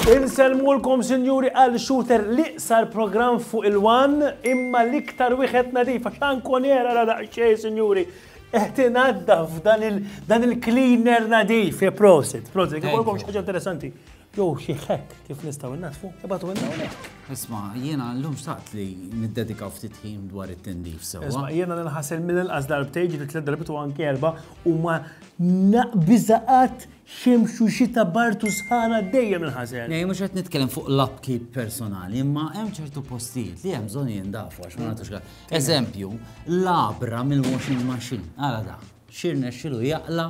Inselmulkom sinjuri għal shooter li sar program fuq il-wan imma l-iktar wieħed nadif għax ankun era ra daqsxejn sinjuri. Eħtin għadda f'dan il-cleaner nadif, prosit, prosit, għikolkom xaġa interessanti. Jew xi hack kif nistgħu nnaddfu, ibagħtuhilna hawnhekk. Isma, jiena llum xtaqt li niddedikaw ftit ħin dwar it-tindif sewwa. Isma, jiena nħassel mill-inqas darbtejn ġiet tliet darbit u anke erba' u ma naqbiża qatt xemx u xita bart u sħana dejjem inħasel. Nej, mhux qed nitkellem fuq l-upkeep personali, imma hemm ċertu postijiet li hemm bżonn jindafu għax ma nagħtux għal. Eżempju, labra mill-washing machine, għala da, xirna xilu jaqla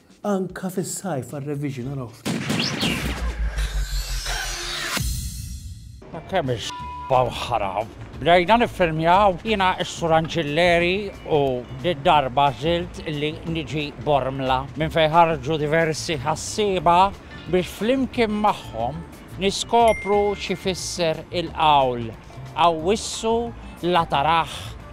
Anka fis-sajf għal revision araw ftit. Kemm isbaw ħaram. Bdejna niffilmjaw jiena s-Sur Anġilleri u darba żilt li niġi Bormla minn fejn ħarġu diversi ħassieba biex flimkien magħhom niskopru xi fisser il-qawl. Awwissu la tarah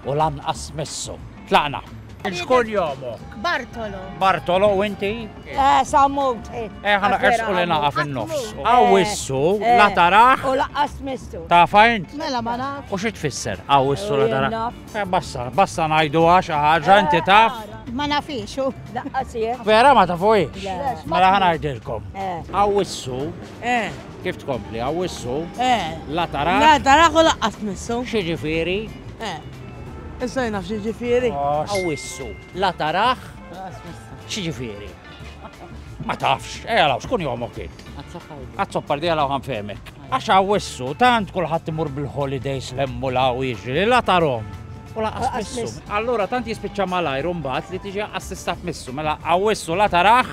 u lanqas missu. Tlaqna. X'kunjomok? Bartolo. Bartolo u inti? Eh, Sammut. Eh, ħana qersqu li naqa' fin-nofs. Awwissu la tarah. U lanqas missu. Tafha int? Mela ma nafx. U xi tfisser? Awwissu la tarah. Eh, bassa, bassa ngħiduha xi ħaġa inti taf? Ma nafix u. Lanqas jien. Vera ma tafuhiex? Mela ħa ngħidilkom. Awwissu. Eh. Kif tkompli? Awwissu? Eh. La taraħ? La taraħ u laqqas tmissu. X'jiġifieri? Eh. Issa jien naf x'jiġifieri. Awwissu. La taraħ? X'jiġifieri? Ma tafx, ejja law, xkun jomok int? Għazzoppar di għalaw għanfemek. Għax għawissu, tant kullħat imur bil-holidays lemmu law iġri, la tarom. U laqqas missu. Allura tant jispiċċa malajr mbagħad li tiġi assistat missu, mela għawissu la taraħ.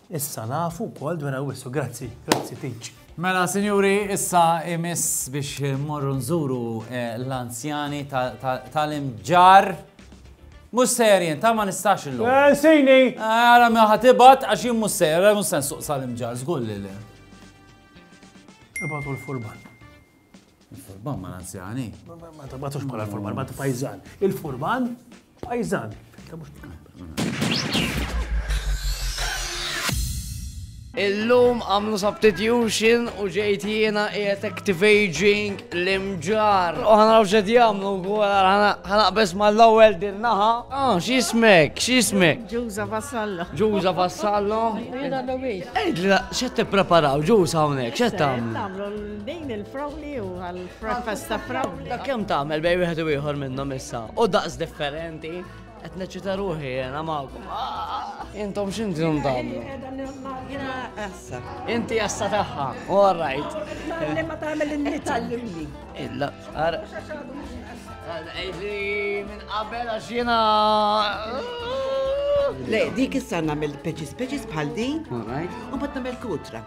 Issa nafu wkoll dwar Awwissu. Grazzi, grazzi Peach. Mela, sinjuri, issa imiss biex morru nżuru eh, l-anzjani tal-imġar. Mux serjen, ta' ma nistax illum. Eh, Sini! Għara eh, ma ħatibat għax jim mux serjen, mux sen suq sal-imġar, zgull li. Ibatu l-furban. Il-furban ma l-anzjani. Ma tabatux bħala l-furban, ma ta' pajzan. Il-furban, pajzan. Illum għamlu substitution u ġejt jiena qiegħed activating l-imġar. U ħanaraw xed jagħmlu wkoll ħanaqbes mal-ewwel din naħa. Ah, x'ismek, x'ismek? Ġuża Vassallo. Ġuża Vassallo. Jiena l-ewwel. Ejdli x'qed tippreparaw ġuża hawnhekk, x'qed tagħmlu? Din il-frawli u għal-breakfast ta' frawli. Ta' kem tagħmel bej wieħed u ieħor minnhom issa. U daqs differenti, qed neċita ruħi jena magħkom. Ah! Intom x'intom tagħmlu? Jiena assa. Inti assa tagħha. All right. Ma tagħmel in-nitallimni. Illa, ara. Minn qabel għax jiena. Le, dik issa nagħmel peċis peċis bħal din. All right. U bad nagħmel kutra.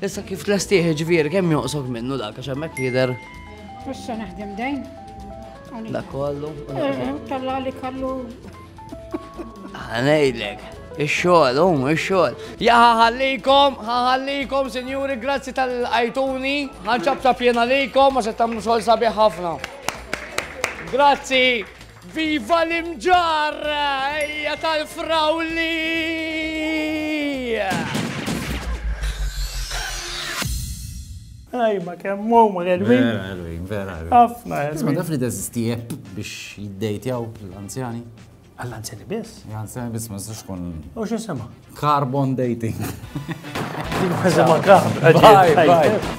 Issa kif tlestih ġvir, kemm joqsok minnu dak, għax hemmhekk jidher. Issa naħdem dejn. Dak kollu. Eh, eh, talla li kallu. Għanejlek. Ah, Ix-xogħol, um, ix-xogħol. Ja ħallikom, ħallikom, sinjuri, grazzi tal-ajtuni, ħanċab ta' pjena likom, ma se tagħmlu xogħol sabiħ ħafna. Grazzi. Viva l-imġarr, ejja tal-frawli! Ajma, kemm huma l-elwin. Vera, elwin, vera. Ħafna elwin. Isma' daf li teżisti app biex jiddejtjaw l-anzjani. Għall-anzjani biss? Għall-anzjani biss ma nistax kun. U xi sema? Carbon dating. Sema carbon. Bye, bye.